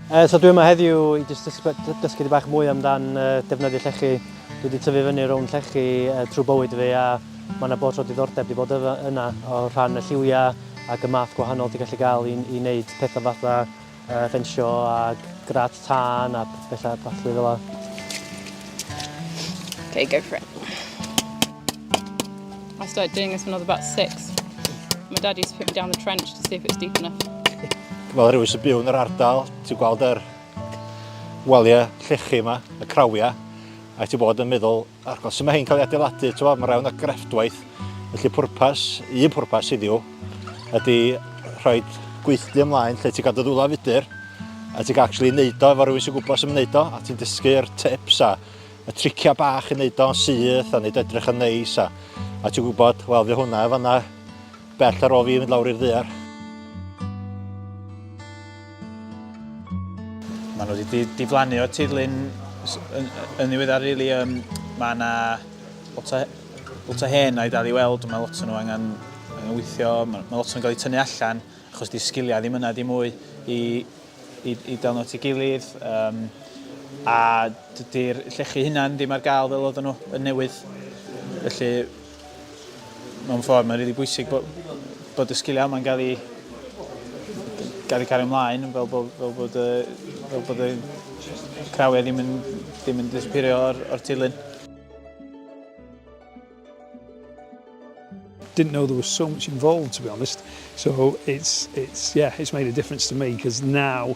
Uh, so dwi yma heddiw i jyst dysgu di bach mwy amdan uh, defnyddio llechi. Dwi wedi tyfu fyny rownd llechi uh, trwy bywyd fi a mae yna bod o diddordeb wedi bod yna o rhan y lliwiau ac y math gwahanol ti'n gallu gael i, i wneud pethau fatha Yy fensio a grad tân a pethau ballu fel la. Okay, go for it. I started doing this when I was about six. My dad used to put me down the trench to see if it was deep enough. Fel rhywun sy'n byw yn yr ardal, ti'n gweld yr waliau llechi yma, y crawiau, a ti'n bod yn meddwl, Ac os yma hyn cael ei adeiladu, tywa, mae rhawn o grefftwaith, felly pwrpas, un pwrpas yw, ydy rhoi gweithlu ymlaen lle ti'n cadw ddwla fudur, a ti'n actually wneud o efo rhywun sy'n gwybod sy'n wneud o, a ti'n dysgu'r tips a y triciau bach i wneud o'n syth a wneud edrych yn neis, a, a ti'n gwybod, wel, fi hwnna efo yna Bell ar ôl fi fynd lawr i'r ddear. Mae nhw wedi diflannu o'r tirlun yn ddiweddar rili. Um, mae yna lot o, lot o hen a'i dal i weld, mae lot o nhw angen, angen weithio, mae, mae lot o'n cael ei tynnu allan achos di sgiliau ddim yna di mwy i, i, i delno at ei gilydd. Um, a dydy'r llechi hunan ddim ar gael fel oedden nhw yn newydd. Felly mewn ffordd mae'n rili really bwysig bod, bod y sgiliau yma'n gael ei gael ei cario ymlaen fel bod, fel bod, fel bod y crawiau ddim yn, ddim yn disappeario o'r, or tilyn. Didn't know there was so much involved to be honest. So it's it's yeah, it's made a difference to me because now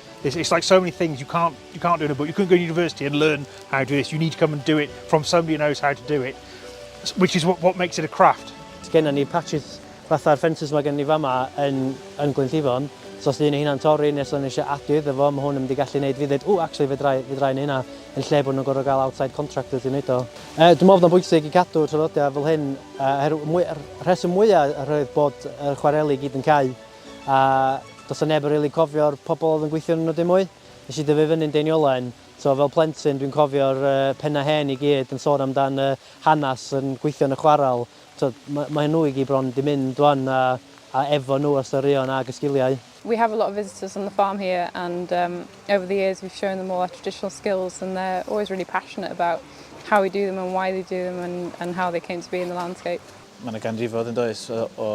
It's, it's like so many things you can't, you can't do in a book. You couldn't go to university and learn how to do this. You need to come and do it from somebody who knows how to do it, which is what, what makes it a craft. Genna ni patches fatha'r ffensys mae gen ni fama yn, yn Glynllifon. So os ydyn ni hynna'n torri nes o'n eisiau adu iddo fo, mae hwn yn mynd i gallu gwneud fi ddweud, ww, actually, fedrai, fedrai neu hynna, yn lle bod nhw'n gorfod gael outside contractors i wneud o. E, dwi'n meddwl bod bwysig i cadw traddodiad fel hyn, er, mwy, rheswm mwyaf roedd bod y chwareli gyd yn cau a does 'na neb yn rili cofio'r pobl oedd yn gweithio ynnyn nhw dim mwy. Nes i dyfu fyny'n Deiniolen, so fel plentyn dwi'n cofio'r pennau hen i gyd yn sôn amdan y hanes yn gweithio yn y chwarel. T'od ma' ma' nhw i gyd bron 'di mynd wan a a efo nhw y storïon ag y sgiliau. We have a lot of visitors on the farm here and um over the years we've shown them all our traditional skills and they're always really passionate about how we do them and why they do them and and how they came to be in the landscape. Ma' 'na ganrifoedd yndoes o o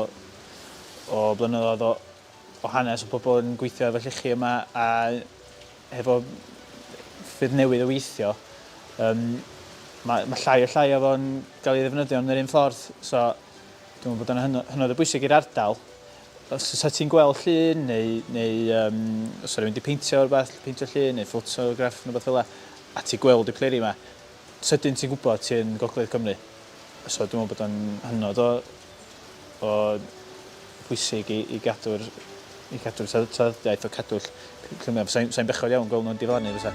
o blynyddoedd o, o hanes o pobl yn gweithio efo llechi yma a hefo ffyrdd newydd o weithio, um, mae, mae llai o llai o fo'n cael ei ddefnyddio yn yr un ffordd. So, dwi'n meddwl bod o'n hynod o bwysig i'r ardal. Os oes ti'n gweld llun neu, neu um, os oes wedi peintio o'r beth, peintio llun neu ffotograff neu beth fel a ti gweld y pleri yma, sydyn ti'n gwybod ti'n Gogledd Cymru. So dwi'n meddwl bod o'n hynod o bod pwysig i, i gadw'r i cadw'r traddodiaeth o cadw'r lluniau. Sa'n sa bechod iawn gweld nhw'n diflannu fysa.